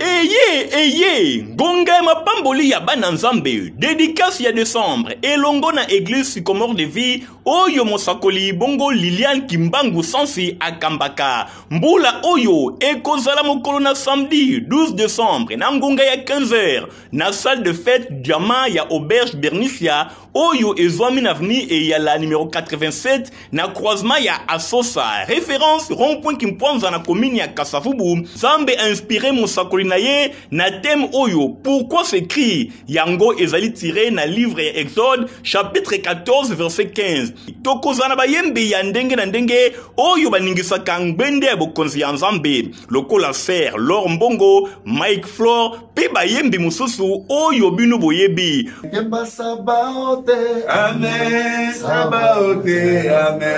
eye eye ngonga ya mapamboli ya bana nzambe dedikasi ya desembre elongo na eglise sycomore de vie oyo mosakoli bongo liliane kimbangu sansi akambaka mbula oyo ekozala mokolo na samedi 12 desembre na ngonga ya 15 heures na salle de fete diamant ya auberge bernicia oyo ezwami na avenue eyala numero 87 na croisement ya asosa référence rond-point kimpwanza na commune ya kasavubu nzambe inspire mosakoli na ye na thème oyo pourquoi ce cri yango ezali tire na livre ya exode chapitre 14 verset 15 tokozala na bayembi ya ndenge na ndenge oyo baningisaka ngbende ya bokonzi ya nzambe lokola fer lor mbongo mike flor mpe bayembi mosusu oyo bino boyebi yemba sabaote ame sabaote ame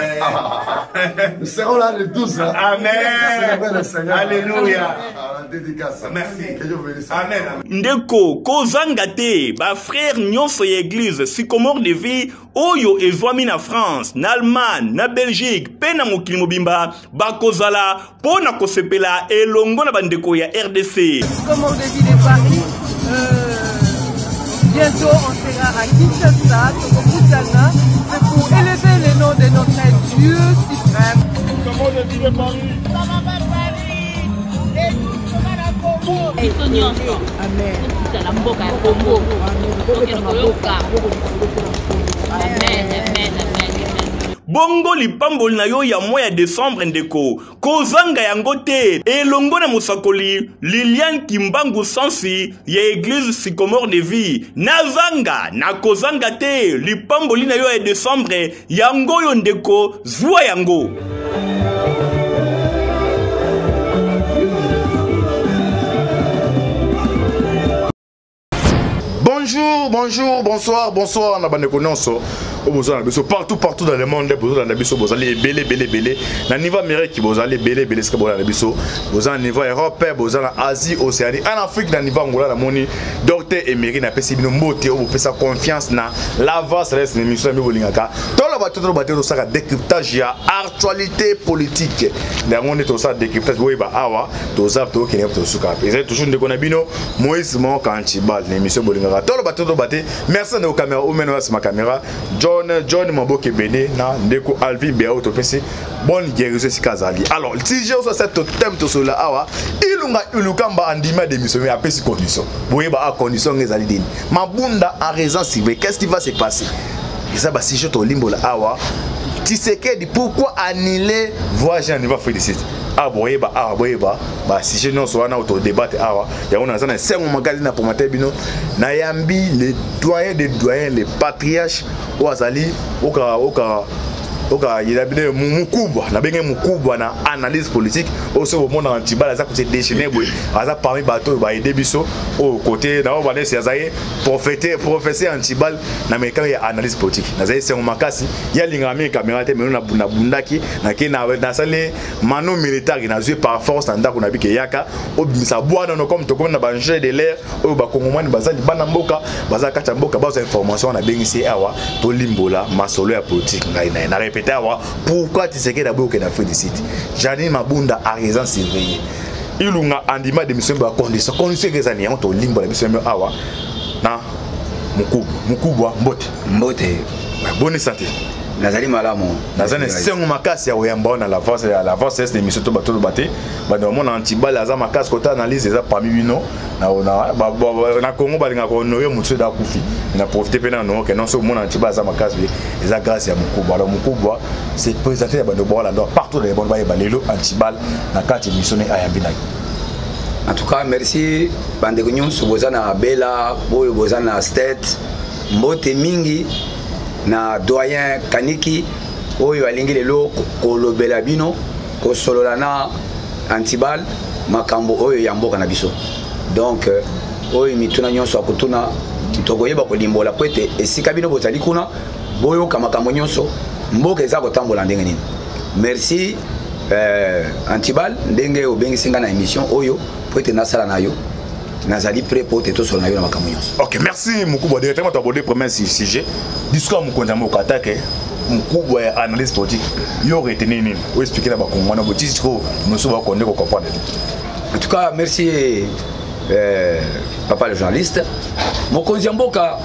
nous serons là le 12 là. amen alléluia dédicace. Merci. Que Dieu vous bénisse. Amen. Ndeko, kozanga te, ba frères nyonso ya église, sycomore de vie, oyo ezwami na france na allemagne na belgique mpe na mokili mobimba bakozala mpo na kosepela elongo na bandeko ya rdc Bientôt, on sera à Kinshasa, Tokokutana. C'est pour élever le nom de notre Dieu suprême. Comment on dit de Paris biso nyonso totala mboka ya kongo tokende koyoka amen amen amen bongo lipamboli na yo ya mwa ya desembre ndeko kozanga yango te elongo na mosakoli liliane kimbangu sansi ya eglize sycomore de vie nazanga na kozanga te lipamboli na yo ya desembre yango oyo ndeko zwa yango bonjour bonjour bonsoir bonsoir na bandeko nyonso oyo boza na biso partout partout dans le monde nde bozolanda biso bozali ebele ebele ebele na niveau amérique bozali ebele ebele esika bolanda biso boza na niveau europe boza na asie océanie en afrique na niveau angola namoni Docteur Emery na pesi bino mbote obo pesa confiance na la voix reste une émission mbi bolingaka. Tolo ba tolo ba tolo saka décryptage ya actualité politique. Na ngone to sa décryptage boye ba awa to zap to kenya to suka. Ezali toujours ndeko na bino Moïse Mon Kanchi bal na émission bolingaka. Tolo ba tolo ba te. Merci ndeko camera ou meno ma camera. John John Maboke Bene na ndeko Alvin Beau to pesi bonne guérison esika azali alors tige oso asa totem tosolola awa ilunga ilukamba andimi adémissionne apesi condition boyeba a ah, condition nga ezali nini mabunda en raison cible qu'est ce qui va se passer eza basujet tolimbola awa tisekedi pourquoi annule voyage na niveau félicite awa ah, boyeba awa ah, boyeba basujet nyonso wana oyo todebate awa yango naza na esengo makasi na promate bino nayambi le doyen de doyen le patriarche oyo azali oka oka oka yela bino mukubwa na benge mukubwa na analyse politique oyo soki omonaka ntibala aza kose déchaîner boye aza parmi bato oyo baede biso oyo kote na oyo banesi azali profete professeur ya ntibal na mekano ya analyse politique nazali sengo makasi ye alingaka mingi kamera te meno nabundaki nake nasali mano militari nazwi par force na ndako na bike yaka obimisa bwana no comme tokomi na bangele de l'air oyo bakongomani baza libanda mboka baza kati ya mboka bazwa information wana abengisi ye awa tolimbola masolo ya politike ngai na ye na repete awa pourquoi tisekedi aboyoke na afrique du sud janine mabunda araisan surveille ilunga andima demission ba condition condition eza ni yango tolimbola biso yango awa na mokubwa mokubwa mbote mbote boni sante nazali malamu naza na esengo makasi ya koyamba wana lavance ya lavance ese émission to bato oloba te bando bamona antibale aza makasi kota analyse eza parmi bino na congo balingaka konoye motu eda akufi na profite mpe na noke non soki omona antibale aza makasi pe eza grâce ya mokubwa alors mokubwa se présente ya bando baola ndo partout na ebano bayeba lelo antibale na kati émission ne ayambi na yo en tout cas merci bandeko nyonso boza na bela boyo boza na state mbote mingi na doyen kaniki oyo alingi lelo kolobela bino kosolola na antibal makambo oyo ya mboka na biso donc euh, oyo mituna nyonso akotuna tokoyeba kolimbola mpo ete esika bino bozali kuna boyoka makambo nyonso mboka eza kotambola ndenge nini merci euh, antibal ndenge obengisi ngai na émission oyo mpo ete nasala na yo nazali prêt mpo te tosolo na yo na makambo nyonso ok merci mokubwa directement toaborde premier sujet discours ya mokonzi ya mboka atake mkubwa ya analyse politique yo reteni nini oexplike na bakongwana botisi sikoyo noso bako nde kocomprendre te en tout cas merci euh, papa le journaliste mokonzi ya mboka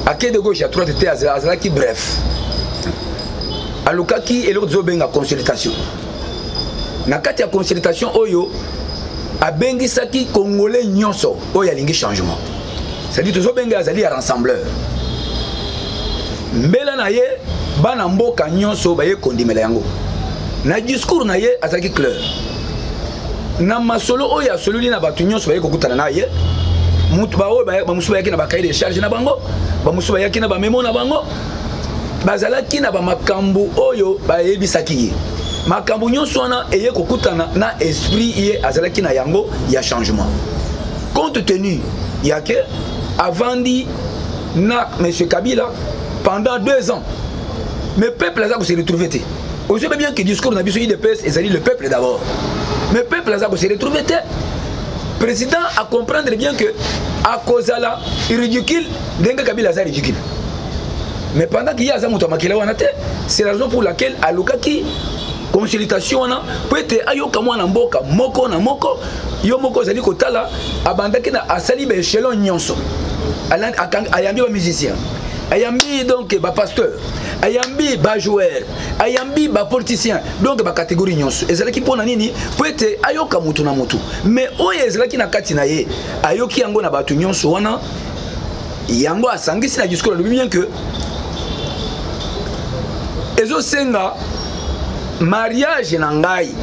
ake de gauche ya droite te azalaki bref alukaki eloko tozobenga consultation na kati ya consultation oyo abengisaki congolais nyonso oyo alingi changement cestadire tozobenga azali ya rassembleur mbela na ye bana mboka nyonso baye kondimela yango na discours na ye azalaki clair na masolo oyo asololi na bato nyonso baye kokutana na ye baoyo bamosusu bayaki na bakaye de charge na bango bamosusu bayaki na bamemo na bango bazalaki na bamakambo oyo bayebisaki ye makambo nyonso wana eye kokutana na esprit ye azalaki na yango ya changement compte tenu ya ke avandi na monsieur kabila pendant deux ans mais peuple aza kose retrouve te ozoyebi bien ke discours na biso idps ezali le peuple d'abord mais peuple aza kose retrouve te président acomprendre bien que akozala ridicule ndenge kabila aza ridicule mais pendant que ye aza moto ya makele wana te c'est la raison pour laquelle alukaki consultation wana mpo ete ayoka mwana mboka moko na moko yo moko ozali kotala abandaki na asali baechelon nyonso ayambi bamusicien ayambi donc bapasteur ayambi bajoueur ayambi bapoliticien donc bacatégorie nyonso ezalaki mpo na nini mpo ete ayoka motu na motu mais oyo ezalaki na kati na ye ayoki yango na bato nyonso wana yango asangisi na discours alobi bien que ezosenga mariage na ngai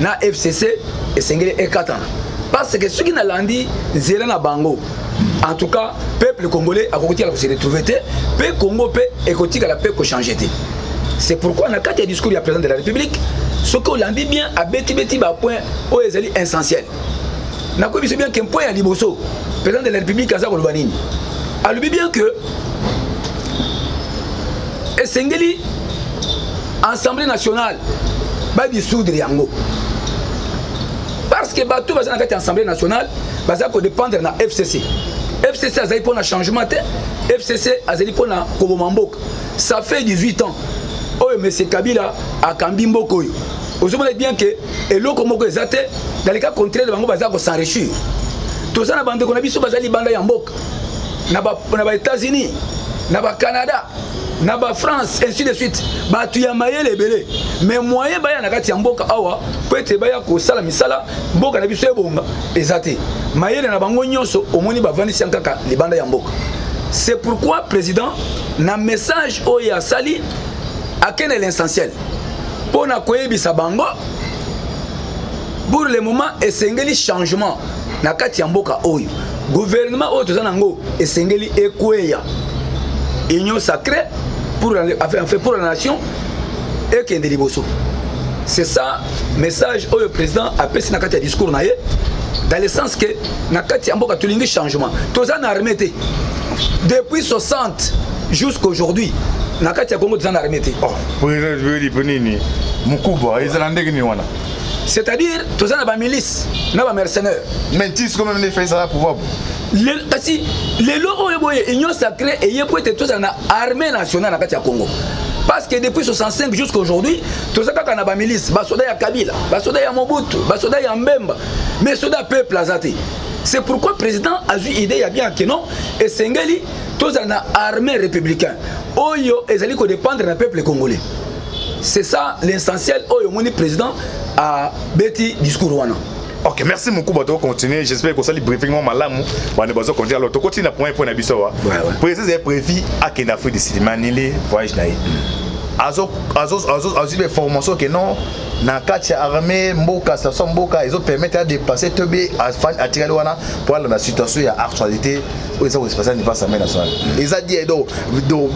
na fcc esengeli ekatana parce que soki nalandi nzela na bango en tout cas peuple congolais akoki tikala kose retrouve te mpe congo mpe ekotikala mpe kochange te c'est pourquoi na kati ya discours ya président de la république soki olandi bien abetibeti bapoint oyo ezali essentiel nakoyebi biso bien ke mpo ya liboso président de la république aza koloba nini alobi bien que esengeli assemblée nationale badissoudre yango parce que bato baza na kati ya assemblée nationale baza kodépendre na fcc fcc azali mpo na changement te fcc azali mpo na koboma mboka ça fait 18 ans oyo mese kabila akambi mboka oyo ozomona bien ke eloko moko eza te dans le cas contraire bango baza ko s'enrichir toza na bandeko na biso baza libanda ya mboka na ba, na ba états-unis na ba canada na ba france ainsi de suite bato ya mayele ebele mais moyen baya na kati ya mboka awa mpo ete baya kosala misala mboka na biso ebonga eza te mayele na bango nyonso omoni bavandisi yang kaka libanda ya mboka c'est pourquoi président na message oyo asali akende l'essentiel mpo na koyebisa bango pour le moment esengeli changement na kati ya mboka oyo gouvernement oyo toza nango esengeli ekweya union sacrée pour la, enfin, enfin, pour la nation ekende liboso c'est ça message oyo président apesi na kati ya discours na ye dans le sens que na kati ya mboka tolingi changement toza na armée te depuis 60 jusqu'aujourd'hui na kati ya congo toza na armée te mukubwa ezala ndenge nini wana c'est-à-dire toza na bamilice na bamercenaire mais tis comme mende fai ezala pouvoir kasi lelo oyo boye union sacré eye po ete tozala na armée nationale na kati ya congo parce que depuis 65 jusqu'à aujourd'hui toza kaka na bamilice basoda ya kabila basoda ya mobutu basoda ya mbemba mais soda peuple aza te c'est pourquoi président azwi idée ya bien ke non esengeli tozala na armée républicain oyo ezali kodépendre na peuple congolais c'est ça l'essentiel oyo omoni président abeti discours wana ok merci mokuba tokocontinue j'espère kosali briefing mwa malamu bande bazo continue alors tokotina point point na biso awa président ezali prévu akende afrique du sud manile voyage na ye azwi baformation ke non na kati ya armée mboka station mboka ezopermettre ya dépasse to be atikali wana mpo alanda situation ya actualité oyo eza ko se passer pas semaine na soir eza bien donc donc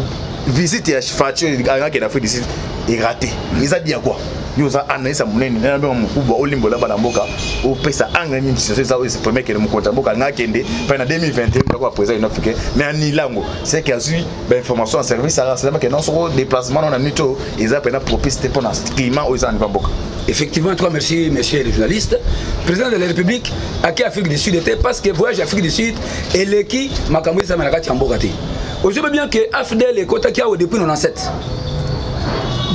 visite ya facho angaki na Afrique du Sud est raté eza bien quoi yo oza analyse ya monene na nabengaka mokubwa olimbola bana mboka opesa angle nini situation eza oyo premier kende mokonzi ya mboka alingaki akende mpe na 2021 ndako ya président union africain mais anila yango seke azwi ba information ya service ya race ke non soko déplacement na nuit oyo eza mpena propice te mpo na climat oyo eza na nivo mboka effectivement toi merci monsieur le journaliste président de la république ake afrique du sud te parce que voyage afrique du sud eleki makambo ezama na kati ya mboka te ozobe bien ke afdl ekotaki awa depuis 97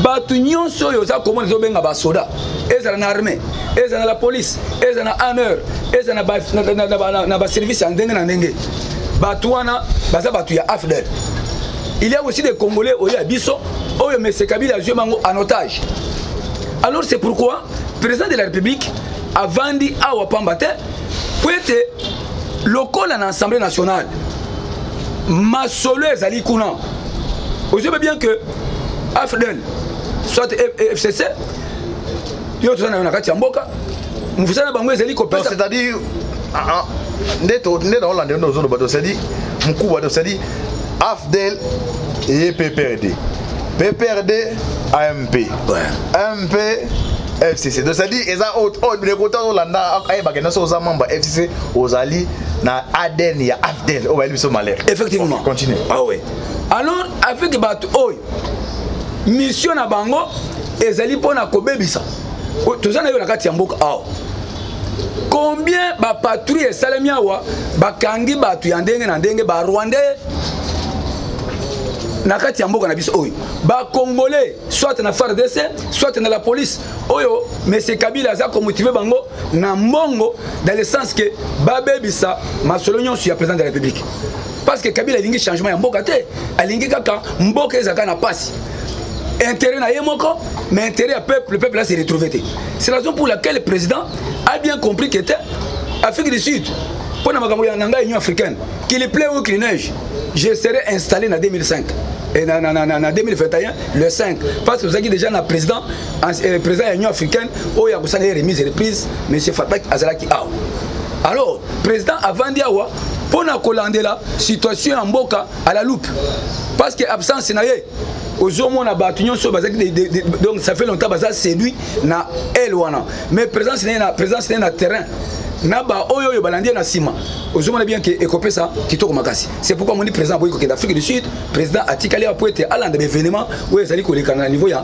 bato nyonso oyo oza komona ezobenga basoda ezala na armée ezala na la police ezala na aneur ezala na baservice ya ndenge na ndenge bato wana baza bato ya afdel il y a aussi des congolais oyo ya biso oyo mese kabila azwi bango en otage alors c'est pourquoi président de la république avandi awa pamba te mpo ete lokola na assemblée nationale masolo ezali kuna ozobe bien que afdel soit fcc yo toza na yo na kati ya mboka mosala na bango ezali kopesa c'est-à-dire ah, ah, nde naolanda yo nde ozoloba to c'est-à-dire mokuba to c'est-à-dire afdel eye pprd pprd amp amp fcc donc c'est-à-dire eza oyo oh, oh, bileko to azolanda ayebaka nyonso oza membre ya fcc ozali na adn ya afdel oyo oh, bayeli biso malere effectivement continue ah oui alors avec bato oyo mission na bango ezali mpo na kobebisa toza na yo na kati ya mboka awa combien bapatrouille esalemi awa bakangi bato ya ndenge na ndenge barwandais na kati ya mboka na biso oyo bacongolais soit na fardc soit na la police oyo mese kabila aza komotive bango na mbongo dans le sens que babebisa masolo nyonso ya président de la république parce que kabila alingi changement ya mboka te alingi kaka mboka ezalaka na pasi intérêt na ye moko mais intérêt ya peuple le peuple a se retrouve te c'est la raison pour laquelle le président a bien compris que te afrique du sud mpo na makambo ya nanga union africaine qu'il plait ou qu'il neige je serai installé na 2005 et na, na, na, na, na 2021 le 5 parce que ozalaki déjà na président eh, président ya union africaine oyo akosala ye remise reprise monsieur fatak azalaki awa alors président avandi awa mpo na kolandela situation ya mboka à la loupe parce que absence na ye ozomona bato nyonso bazalaki donc ça fait longtemps baza séduit na ele wana mais présence na ye na présence na ye na terrain na baoyo oyo balandi ye na nsima ozomona bien ke ekopesa kitoko makasi c'est pourquoi omoni président akoki kokende afrique du sud président atikali awa mpo ete alanda baevenement oyo ezali kolekana na niveau ya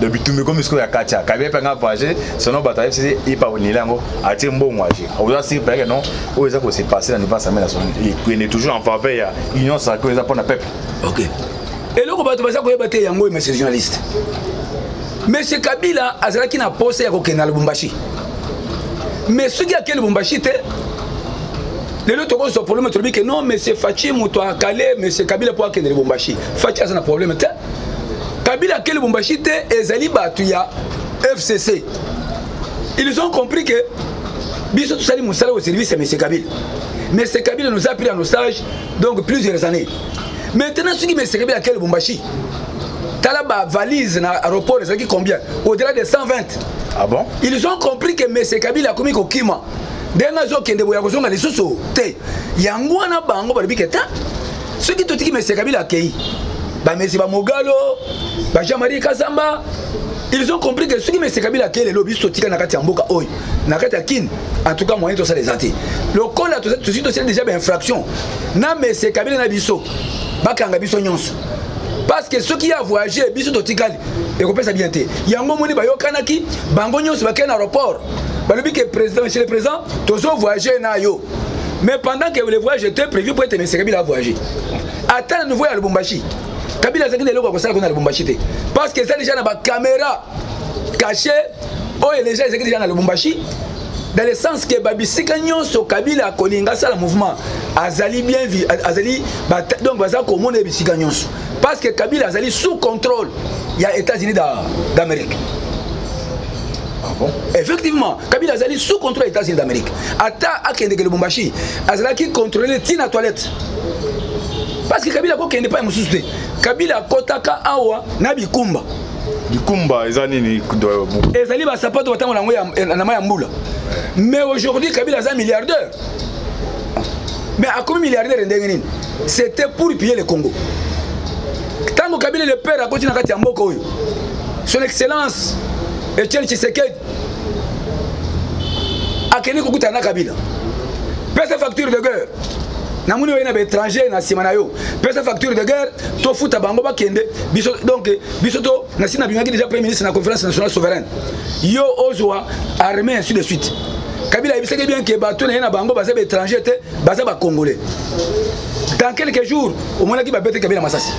do bitumbi ekomi sikoyo ya katia kabi epe anga voyage selon bato ayebisi te ipa onila yango atie mbongo age oza siri peke non oyo eza kose passe na niveau ya samela son ekende toujours en faveur ya union sacré oyo eza mpo na peuple ok eloko bato baza koyeba te yango oyo monsieur journaliste monsieur kabila azalaki na posa ya kokende na lubumbashi mais soki ake lubumbashi te lelo tokozwa problème tolobi ke non monsieur faci moto akale monsieur kabila mpo akende lubumbashi faci aza na problème te kabila ake lubumbashi te ezali bato ya fcc ils ont compris que biso tosali mosala au service ya monsieur kabila monsieur kabila nous a pris en otage donc plusieurs années maintenant soki monsieur kabila ake lubumbashi tala bavalise na aéroport ezalaki combien au-delà de 120 ah bon ils ont compris que monsieur kabila akomi kokima ndenge azokende boye akozonga lisusu te yango wana bango balobi ke ta soki totiki mese kabila akei bamese bamogalo bajean marie kasamba ils ont compris que soki mese kabila akei lelo biso totika na kati ya mboka oyo na kati ya kine en tout cas moyen tosala eza te lokola tosi tosali déjà bainfraction na mese kabila na biso bakanga biso nyonso parce que soki ya voyage biso totikali ekopesa bien te yango omoni bayokanaki bango nyonso bakei na aéroport balobi ke président monsieur le président tozo voyage na yo mais pendant que le voyage était prévu mpo ete mese kabila avoyage ata na niveau ya lubumbashi kabila azalaki na eloko ya kosala kuna na lubumbashi te parce que eza déjà na bacaméra caché oyo déjà ezalaki déjà na lubumbashi dans le sens que babisika nyonso kabila akolinga asala mouvement azali bien azali donc baza komona ye bisika nyonso parce que kabila azali sous contrôle ya états-unis d'amérique da Ah bon? effectivement kabila azali sous contrôle ya états-unis d'amérique ata akendeke lubumbashi azalaki contrôle ti na toilette parce que kabila akokende epai mosusu te kabila akotaka awa na bikumba bikumba eza nini ezali basapato batango na yango na mai ya mbula mais aujourd'hui kabila aza milliardaire mais akomi milliardaire ndenge nini c'était pour piller le congo ntango kabila le père akoti na kati ya mboka oyo son excellence etienne tshisekedi akende kokutana na kabila pesa facture de guerre namoni oye na baétranger na nsima na yo pesa facture de guerre tofuta bango bakende biso donc biso to nasi nabimaki déjà premier ministre na conférence nationale souveraine yo ozwa armée ainsi de suite kabila ayebisaki bien ke bato na ye na bango baza baétranger te baza bacongolais dans quelques jours omonaki babete kabila masasi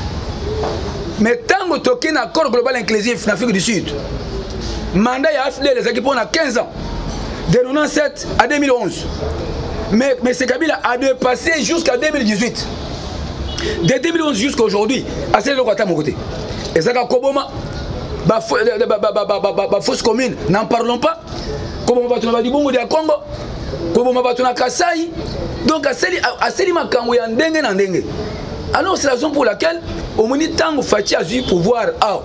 mais ntango toke na accord global inclusif na afrique du sud mandat ya afdl ezalaki mpo na 15 ans de 97 à 2011 mais m kabila a dépassé jusqu'à 2018 de 2011 jusqu'à aujourd'hui asali eloko ata moko te ezalaka koboma bafausse commune n'en parlons pas koboma bato na badibongo ya congo koboma bato na kasai donc asali makambo ya ndenge na ndenge alors c'est la raison pour laquelle omoni ntango faci azwi pouvoir awa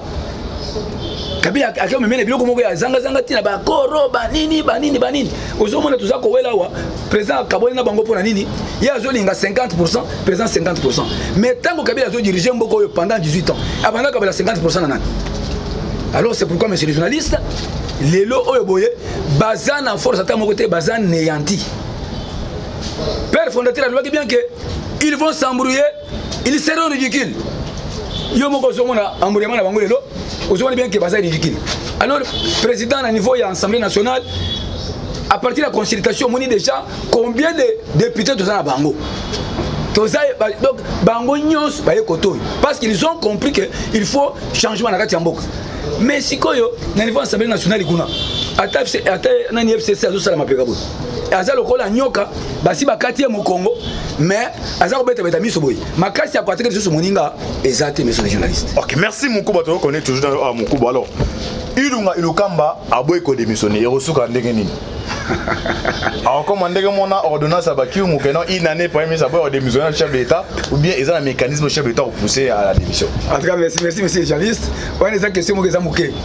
kabila ake omemela biloko moko ya zangazanga ntina bakoro banini banini banini ozomona toza kowela awa président akaboli na bango mpo na nini ye azolinga 50 pourcent président 50 pourcent mais ntango kabila azodirige mboka oyo pendant 18 ans abanda kabila 50 pourcent na nani alors c'est pourquoi monsieur le journaliste lelo oyo boye baza na force ata moko te baza neyanti père fondateur alobaki bien que ils vont s'embrouiller ils seront ridicules yo moko ozomona embrouillement na bango lelo ozomona bien que baza ridicule alors président na niveau ya assemblée nationale à partir ya consultation omoni déjà combien de députés toza na bango toza donc bango nyonso baye kote oyo parce qu'ils ont compris que il faut changement na kati ya mboka mais sikoyo na niveau assemblée nationale kuna ata nani fcc azosala mapeka boye aza lokola nyoka basi bakati ye mokongo mais aza kobetabeta miso boye makasi ya koateke lisusu moninga eza te monsieur le journaliste ok merci mokuba tokokone toujours na ah, mokuba alors ilunga ilukamba aboyi kodemissione ekosuka ndenge nini akokoma ndenge mona ordonnance ya bakiungu keno une année premier ministre aboyi kodemissione na chef de l'état ou bien eza na mécanisme chef de l'état kopousse à la démission en tout cas merci merci monsieur le journaliste wana eza question moko eza moke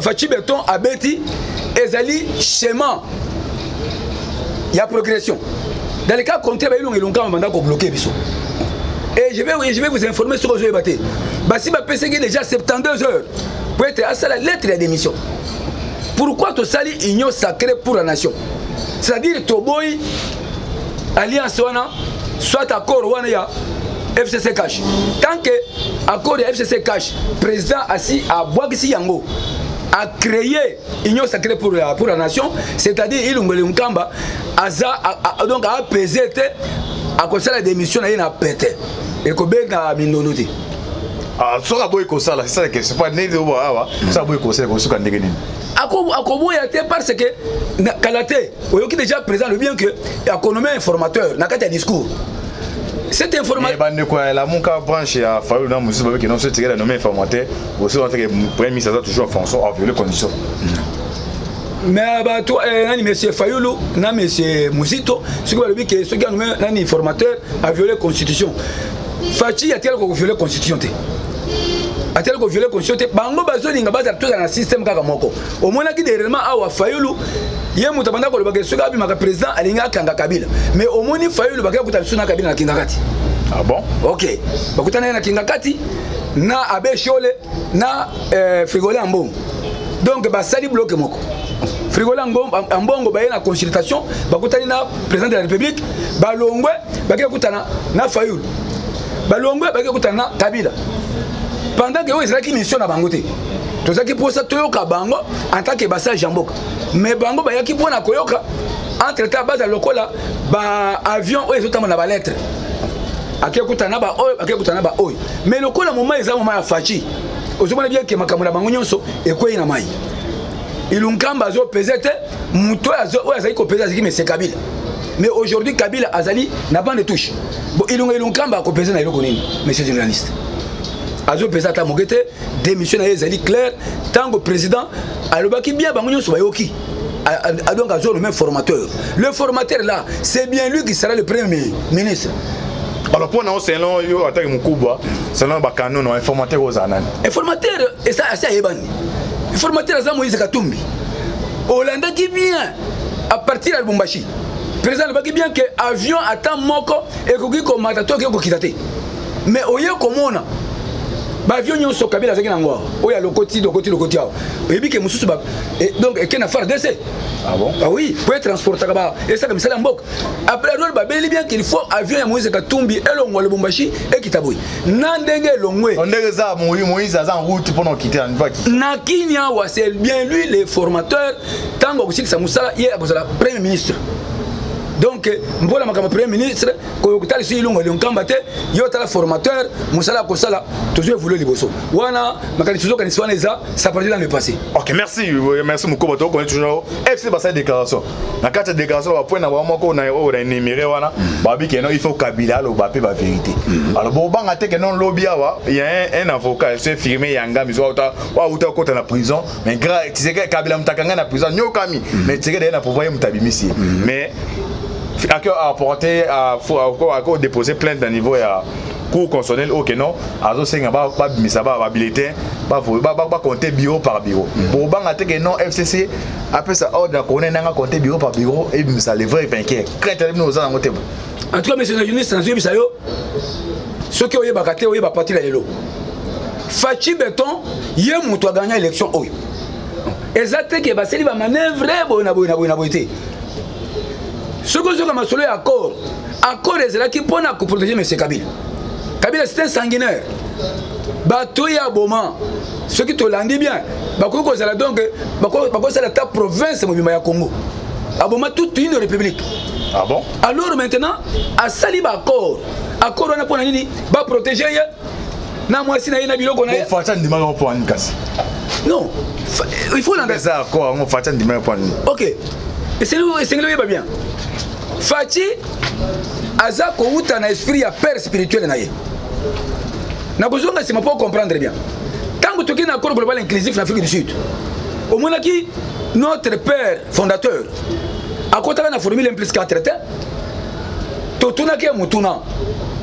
faci beton abeti ezali chemin ya progression dans le cas contraire bayilonga elongama banda kobloke biso et je vais, je vais vous informer soki ozoyeba te basi bapesaki déjà 72 heures mpo ete asala lettre ya démission pourquoi tosali union sacré pour la nation c'est-à-dire toboyi alliance wana soit accord wana ya fcc cash tant que accord ya fcc cash président asi abwakisi yango a créé union sacrée pour la, pour la nation c'est-à-dire ilungwele nkamba aza a, a, donc apese te akosala démission na ye na pete ekobenga mindondo te ah, soki aboyi kosala c'est ça la question pas nini oyo awa soki aboyi kosala ekosuka ndenge nini akoboya te parce que kala te oyoki déjà président le bien que akonome informateur na kati ya discours cette information eh, bandeko ya lamuka branche ya fayulu na mosusu babeke nonso etikela nome informateur osi wateke premier ministre aza toujours françois a viole condition mais bato eh, nani monsieur fayulu na monsieur muzito soki balobi ke soki anome nani formateur a viole constitution faci atikala koviole constitution te atali koviole constitution te bango bazolinga bazala tozala na systeme kaka moko omonaki dernièrement awa fayulu ye moto abanda kolobaka esoki abimaka président alingi akanga kabila mais omoni fayulu bakei kuta lisusu na kabila na kingakati ah bon ok bakutana ye na kingakati na abe shole na euh, frigole ya mbongo donc basali bloke moko frigola ambongo baye na consultation bakutani na président de la république balongwe bakei kutana na fayulu balongwe bake kutana na kabila pendant ke oyo ezalaki mission na bango te tozalaki mposa toyoka bango en tant que basage ya mboka mais bango bayaki mpo na koyoka entre temps bazala lokola baavion oyo ezotambola na balettre akekutana na baoyo akekutana na baoyo mais lokola moma eza moma ya faci ozomona bien ke makambo na bango nyonso ekwei na mai ilunkamba azopeze te moto oyo azali kopeza azalaki mese kabila mais aujourd'hui kabila azali na bande touche bon ilunga ilunkamba akopeza na eloko nini monsieur journaliste azopeza ata moke te démission na ye ezali claire ntango président alobaki bien bango nyonso bayoki donc azo nomme formateur le formateur là c'est bien lui qui sera le premier ministre alors mpo na yo selon yo atake mokubwa selon yo bakanono informateur ozala nani informateur esi ayebani informateur aza moïse katumbi olandaki bien à partir ya lubumbashi président alobaki bien ke avion ata moko ekoki komata to ekoki kokita te mais oye komona bavio nyonso kabila azalaki na yango awa oyo alokoti lokoti lokoti awa oyebi ke mosusu eh, donc eke na fardc ah bon? ah oui po etransportaka ba esaka misala ya mboka après adol babeli bien qu'il faut avion ya moïse katumbi elongwa lubumbashi ekita boye na ndenge elongwe ndenge eza moïse aza en route mpona okite na niveau akite na kini awa c'est bien lui le formateur ntango akosilisa mosala ye akozala premier ministre donc mpo na makambo premier ministre koyokotala lisusu ilongo lionkamba te ye otala formateur mosala ya kosala tozwi evolue liboso wana makanisi tozokanisi wana eza saparti dans le passé ok merci merci mokoba tokokoni toujours fc basali déclaration na kati ya déclaration ba point na bango moko na oyo na énuméré wana mm. babi ke non il faut kabila aloba mpe ba vérité mm. alors bobanga te ke non lobi awa ya un, un avocat se firme yanga miso auta auta okota na prison mais grave tiseke kabila mutakanga na prison nyokami mm. mais tiseke d'ailleurs na pouvoir ye mutabimisi mais ake apporte ako déposer plainte na niveau ya cour constitutionnelle oyo keno azosenga babimisa babulletin bakonte bureau par bureau bobanga te ke non fcc apesa ordre na kone nanga compte bureau par bureau ebimisa le vrai vainqueur crainte na bino oza nango te en tout cas monsieur la journaliste nazoyebisa yo soki oyebaka te oyeba pati na lelo faci beton ye moto agagna élection oyo eza te ke basali bamanevre boye na boye na boye na boye te soki ozoka masolo ya accord accord ezalaki mpo na koprotege monsieur kabila kabila c'est un sanguinaire bato ya boma soki tolandi bien bakoki kozala donc bakosala ata province mobima ya congo aboma toute une république ah bon? alors maintenant asali baaccord accord wana mpo na nini baprotege ye na mwasi na ye na biloko na ye faci andimaka mpo ani kasi non il faut landa eza accord yango faci andimaka mpo ani ok esengeli oyeba bien faci aza kowuta na esprit ya père spirituel na ye nakozonga nsima mpo comprendre bien ntango toki na accord global inclusif na afrique du sud omonaki notre père fondateur akotaka na formule 1 plus 4 te totunaki ye motuna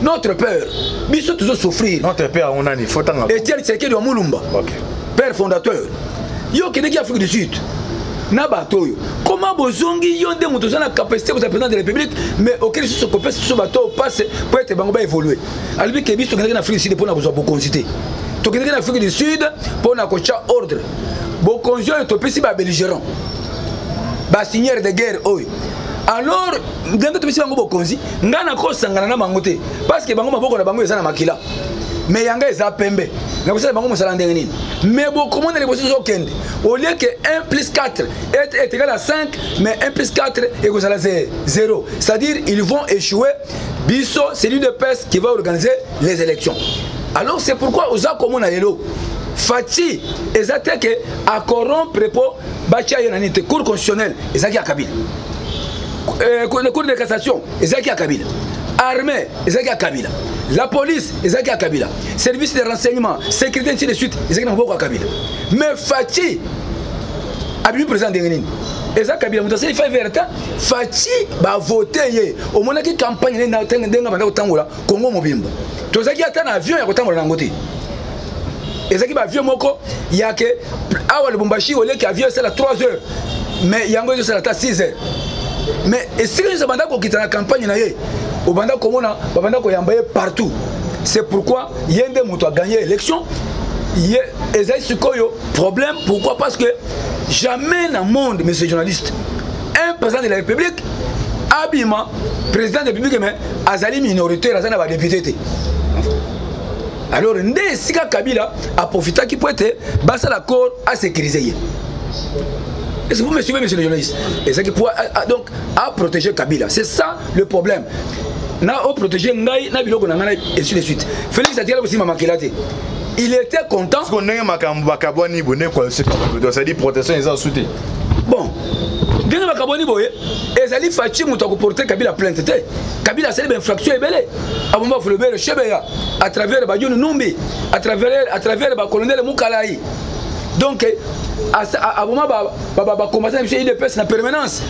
notre père biso tozo souffrir notre père yango nani fotanga etienne tshisekedi wa mulumba okay. père fondateur yo okendeki afrique du sud na bato oyo koma bozongi yo nde moto oza na capacité kozala président de la république mais oke lisusu kopesa biso bato oyo passe mpo ete bango baévolue alobi ke biso tokendaki na afrique du sud mpo na kozwa bokonzi te tokendaki na afrique du sud mpo na kotya ordre bokonzi oyo topesi babelligérant basignere de guerre oyo alors ndenge topesi bango bokonzi ngai nakosangana na bango te parce que bango maboko na bango eza na makila me yanga eza pembe nakosala bango mosala ndenge nini me bokomona liboso ezokende olie ke 1 plus 4 est égal à 5 mais 1 plus 4 ekozala 0 c'est-à-dire ils vont échouer biso c'est l'udps qui va organiser les élections alors c'est pourquoi oza komona lelo faci eza te ke acorompre mpo batya ye na nini te cour constitutionnelle ezalaki ya kabila euh, cour de cassation ezalaki ya kabila armée ezalaki ya kabila la police ezalaki ya kabila service de renseignement sécurité ainsi de suite ezalaki na maboko ya kabila mais faci abimi président ndenge nini eza kabila moto asali fai verte faci bavote ye omonaki campagne nde ndenge banda kotangola kongo mobimba tozalaki ata na avion ya kotangola na yango te ezalaki baavion moko yake awa lubumbashi oleki avion esala 3 heures mais yango ezosala ata 6 heures mais esika nyonso abanda kokita na campagne na ye obanda komona babanda koyamba ye partout c'est pourquoi ye nde moto aganye élection ye ezali sikoyo problème pourquoi parce que jamais na monde monsieur journaliste un président de la république abima président de république mais azali minoritaire aza na badepute te alors nde esika kabila aprofitaki mpo ete basala accord asécurise ye est ce que vous me suivez monsieur le journaliste ezalaki po ah, ah, donc a protéger kabila c'est ça le problème na o protéger ngai na biloko na ngai et suite de suite félix atikala kosimba makila te il était content siko ndenge makambo bakabwani bo nde koalosecetadi protection eza osu te bon ndenge bakabwani boye ezali faci moto akoporte kabila plainte te kabila asali bainfraction ebele abomba fulobere shebeya à travers bajoni numbi à travers bacolonele mukalai donc aboma bakombatana biso idps na permanence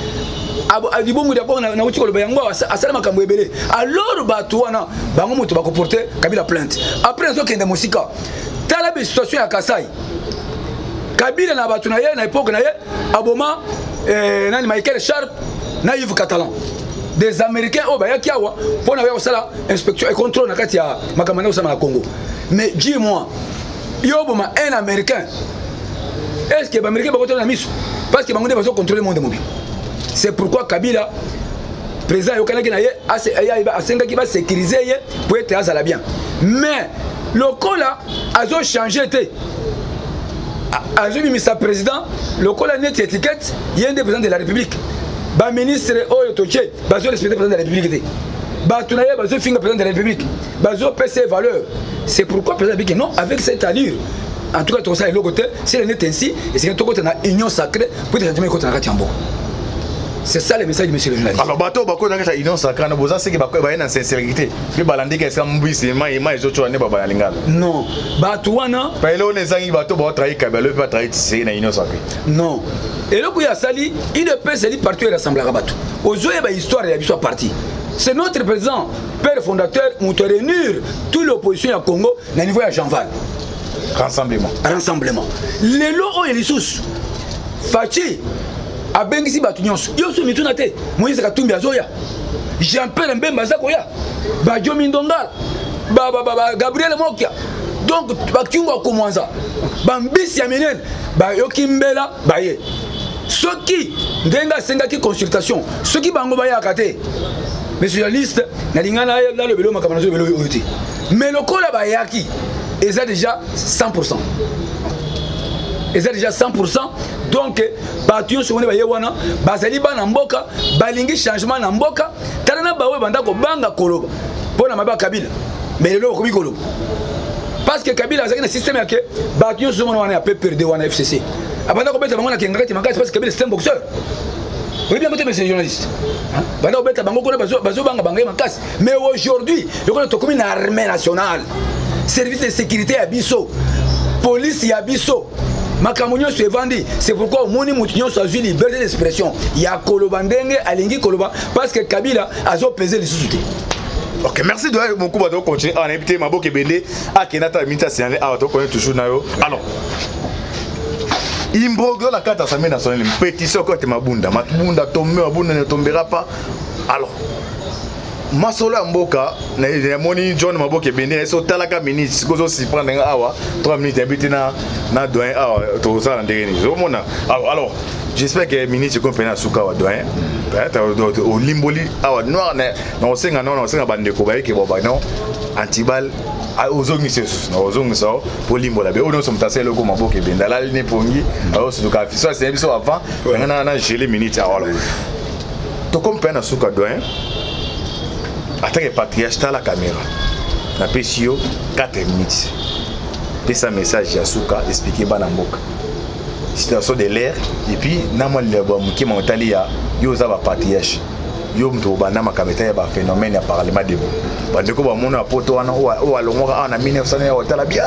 libongo lya bongo nauti koloba yango asala makambo ebele alors bato wana bango moto bakoporte kabila plainte après nazokende mosika tala besituation ya kasai kabila na bato na ye na epoke na ye aboma eh, nani michael sharp na yves catalan des américains oyo bayaki awa mpo na koya kosala inspection et contrôle na kati ya makambo na kosala na congo mais dis moi yo oboma un américain est ce que baaméricain bakotala na miso parce que bango nde bazo contrôle monde mobile c'est pourquoi kabila président ayokanaki na ye asengaki basécurise ye mpo ete azala bien mais lokola azochange te azobimisa président lokola neti étiquette ye nde président de la république baministre oyo totie bazorespecte président de la république te bato na ye bazofinga président de la république bazo pesa valeur c'est pourquoi président abiki non avec cette allure en tout cas tokosala eloko te si elle est ainsi esengeli tokota na union sacrée mpo ete changement ekota na kati ya mboka c'est ça le message de monsieur le journaliste alors bato bakota kati ya union sacrée na boza seke baye na sincérité mpe balandeki esika mbisi ema ema ezocola nde babala lingala non bato wana payele ona ezangi bato baotrahi kabelo mpe batrahi tisei na union sacrée non eloko oyo asali udps ezali parti oyo erasemblaka bato ozoyeba histoire ya biso ya parti c'est notre président père fondateur moto réunir tout l'opposition ya congo na niveau ya janval rassemblement rassemblement lelo oyo lisusu faci abengisi bato nyonso yoso mituna te moïse katumbi azoya jean pierre mbemba aza koya bajo mindongala gabriel mokia donc bakiungo akomwanza bambisi ya minene bayoki mbela baye soki ndenge asengaki consultation soki bango bayaka te mais journaliste nalinga nalobelo makambo nazo lobelo oyo te mais lokola bayaki eza déjà 100 pourcent eza déjà 100 pourcent donc bato nyonso wana baye wana bazali bana mboka balingi changement na mboka tala na baoyo banda kobanga koloba mpo na mabe ya kabila mais lelo bakomi koloba parce que kabila azalaki na système yake bato nyonso mona wana ya pprd wana fcc abanda kobeta bango na kengakati makasi parce que kabila système boxeur oyebi yango te monsieur journaliste banda kobeta bango kuna bazobanga bango ye makasi mais aujourd'hui lokola tokomi na armée nationale service de sécurité ya biso police ya biso makambo nyonso evandi c'est pourquoi omoni moto nyonso azwi liberté d'expression ya koloba ndenge alingi koloba parce que kabila azopese lisusu te ok merci doya mokuba tokocontinue awa nayebi te maboka ebele akenda ata minute asinale awa tokoni toujours na yo alors imbroglio na kati assemblée nationale mpetisi okote mabunda mabunda tombe mabunda ne tombera pas alors masolo ya mboka namoni john maboke ebende na eso otalaka minute sikoy ozosiprendre nga awa 3 minutes yabi te na doyen awa tozosala ndenge nini ozomona alors j'espère que minute ekomi mpena suka awa doyen olimboli awa noir nakosenga nao nakosenga bandeko bayeke boba non antibal Ah, ozongisa esusu na ozongisa o mpo olimbola be oyo nyonso moto asali eloko maboko ebende alali ne pongi aosutuka afiso asene biso avant yangana na gele minute awala tokomi mpe na suka doyen atake patriarche tala caméra napesi yo 4 minutes pesa message ya suka explike bana mboka situation de l'air epuis na mwa liloba moke ma otali ya yo oza bapatriarche yo moto obanda makambo etali ya baphénomène ya parlement debo bandeko bamona ya poto wana oyo alongwaka awa na 1900 ya otala bia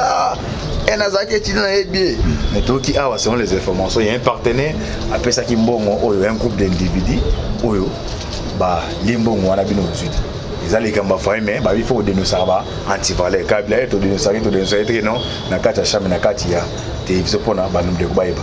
e nazalaki etidi na ye bie me toyoki awa selon les informations ya un partenaire apesaki mbongo oyo un groupe d'individu oyo balie mbongo wana bino ozwi te eza likambo ya faye me babi fo kodenosaka ba antivaleur kabila ye todenosaki todenosaki teke non na kati ya chambre na kati ya télévision mpona bandeko bayeba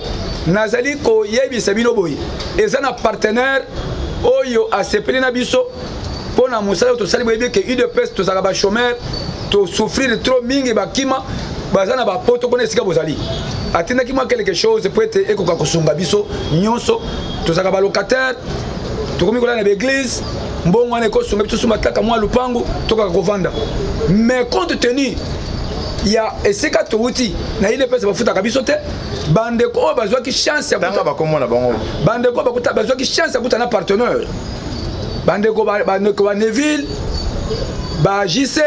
nazali koyebisa bino boye eza na partenaire oyo asepeli na biso mpo na mosala oyo tosali boyebi eke udps tozalaka bachomeur tosouffrir trop mingi bakima baza na bapoto kuna esika bozali atindaki mwa quelque chose mpo ete ekoka kosunga biso nyonso tozalaka balocataire tokomi kolala na baeglise mbongo wana ekosunga biso suma kaka mwa lupangu tokaka kovanda mais compte tenu ya esika towuti na ile pesa bafutaka biso te bandeko oyo bazwaki chance tanga bakombo na bango bandeko oyo bazwaki chance ya kuta na partenaire bandeko bandeko ba neville ba jc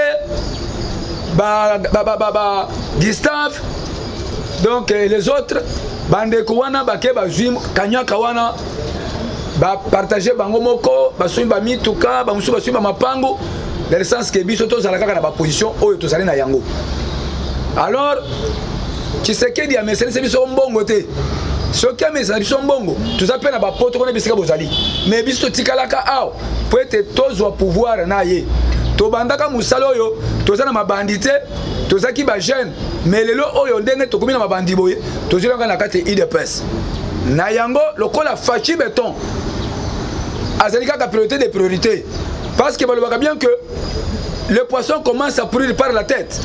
ba, ba, ba, ba, ba gustave donc les autres bandeko wana bake bazwi kanyaka wana bapartage bango moko basumi bamituka bamosusu basumi bamapango dans le sens ke biso tozala kaka na baposition oyo tozali na yango alors tshisekedi amesanisi biso mbongo te soki amesana biso mbongo toza mpe na bapoto kuna bisika bozali mais biso totikalaka awa mpo ete tozwa pouvoir na ye tobandaka mosala oyo toza na mabandi te tozalaki bajeune mais lelo oyo ndenge tokomi na mabandi boye tozwi nanga na kati ya idps na yango lokola faci beton azali kaka priorité de priorité parce que balobaka bien que le poisson commence à pourrir par la tête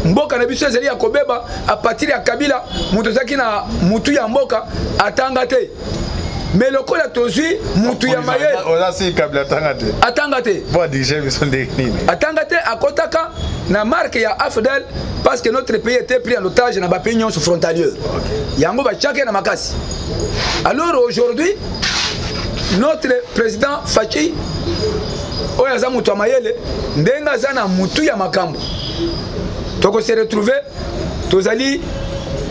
mboka na biso ezali ya kobeba a partir ya kabila moto ezalaki na motu ya mboka atanga te mais lokola tozwi mutu ya mayele atanga te atanga te akotaka na marke ya afdel parce que notre pays était pris en otage na bapays nyonso frontalier yango batiaki na makasi alors aujourd'hui notre président faci oyo aza moto ya mayele ndenge aza na motu ya makambo tokose retrouve tozali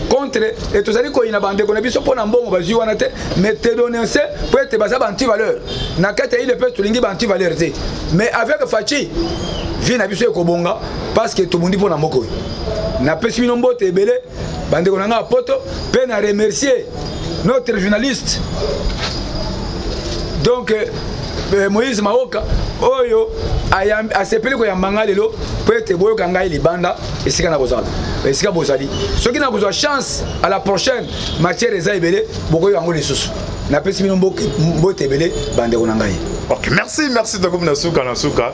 contre e tozali koyina bandeko na biso mpo na mbongo bazwi wana te mais tedononce mpo ete baza baantivaleur na kati ya ile mpe tolingi baantivaleur te mais avec faci vie na biso ekobonga parce que tobundi mpo na mboka oyo napesi bino mbote ebele bandeko na ngai ya poto mpe na remercier notre journaliste donc euh, euh, moïse maoka oyo asepeli koyamba ngai lelo mpo ete boyoka ngai libanda esika nakozala esika bozali soki nakozwa chance à la prochaine matière eza ebele bokoyoka yango lisusu napesi bino mbote ebele bandeko na ngai ok merci merci tokomi na suka na suka